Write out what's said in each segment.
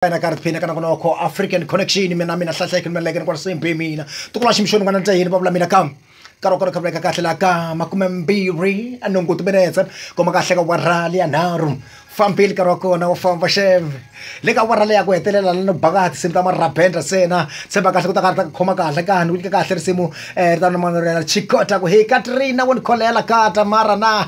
ina ka riphina kana ku noko african connection mina mina hlahleke ni meleke ni kwala same be mina tikula ximixoni n'wana nta yini va vula mina kam nkarhi wa kona kha vuleka kahle la ka makume mbirhi a nongo timinetse kuma kahle ka warali ya nharhu fambile nkarhi wa kona wu famba xeve le ka warali ya ku hetelela la no baka tinsimu ta marabendra sena tshemba kahle ku ta ka ta khoma kahle ka ni nyika kahle risimu eh ta nomano rena chikota ku hey katrina wo ni kholela kata mara na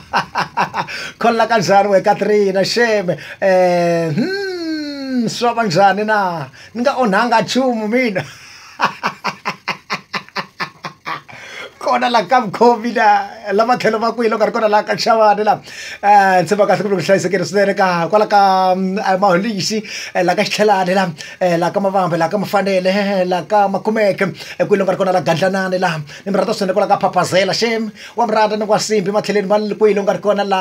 kholela kanjhani we katrina sheme eh hmm swa va njhani na ni nga onhanga nchumu mina kona la ka mukhomi la la matlhelo va kwihi loko a ri kona la ka xavani la um ndzi va kahle ku ri ku hlayisekile swinene ka kwala ka maholixi la ka xitlhelani la la ka mavambe la ka mafanele la ka makumeke kwihi loko a ri kona la gandlanani la ni mi rhandza swinene kwala ka phaphazela xem wa mi rhandza ni kwasimbi matlhelweni ma kwihi loko a ri kona la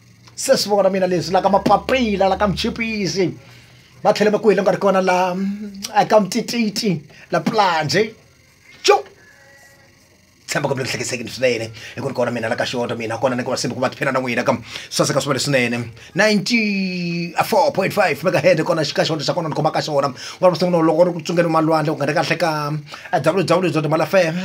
se swi vona mina leswi la ka mapapila la ka muchipisi va tlhele va ku hile nga ri kona la eka mutititi la planje cu tshemba ku mi hlekesekini swinene hi ku ri kona mina la ka xoto mina kona ni ku va simba ku va tiphina na n'wina ka saseka swi va leswinene 94.5 megahead kona xi ka xoto xa kona ni khoma ka xona ku va sungula loko ri ku tsungeni malwandle ku nga ri kahle ka www malafm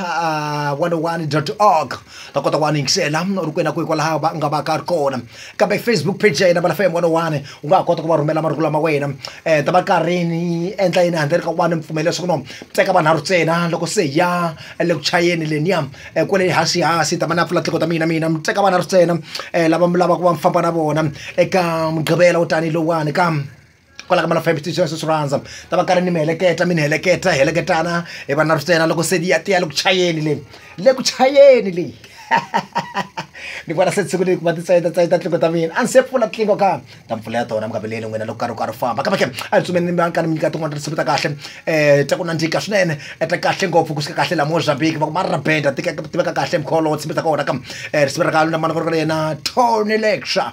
101 org ta kota ku va ni yingisela u ri kwena kwihi kwalaho va nga va ka ri kona kambe facebook page ya yena vala fm one oh one u nga ha kota ku va rhumela marungula ma wena um ta va karhi ni endla yini handle ka ku va ni mpfumela leswaku no teka vanharhu ntsena loko se hi ya le ku chayeni leniya um eh, kwele hasi hasi ta va na pfula tiko ta mina mina mi teka vanharhu ntsena um lava mi lavaka va mi famba na vona eka mugqivela wo tanihi lowani ka kwala ka mana five station sweswi rhandza ta va karhi ni mi heleketa mi ni heleketa heleketana hi va na rutena loko se ya tiya le ku chayeni leyi le ku chayeni leyi ni vona se siku leyi ku va titsayeta tsayeta tlingo ta mina a ni se pfula tlingo ka ta mpfula ya tona mukaveleni n'wina loko karhi ku karhi famba kambe ke a ni tsumeni ni ka ni mi nyika tin'wana ta tinsimu ta kahle um ta ku nandzika swinene ta kahle ngopfu ku suka kahle la mozambique va ku ma rabenda tiveka kahle mkholo tsimi ta kona ka um risimu ra ka luna mana ku ri ka yena tony lecture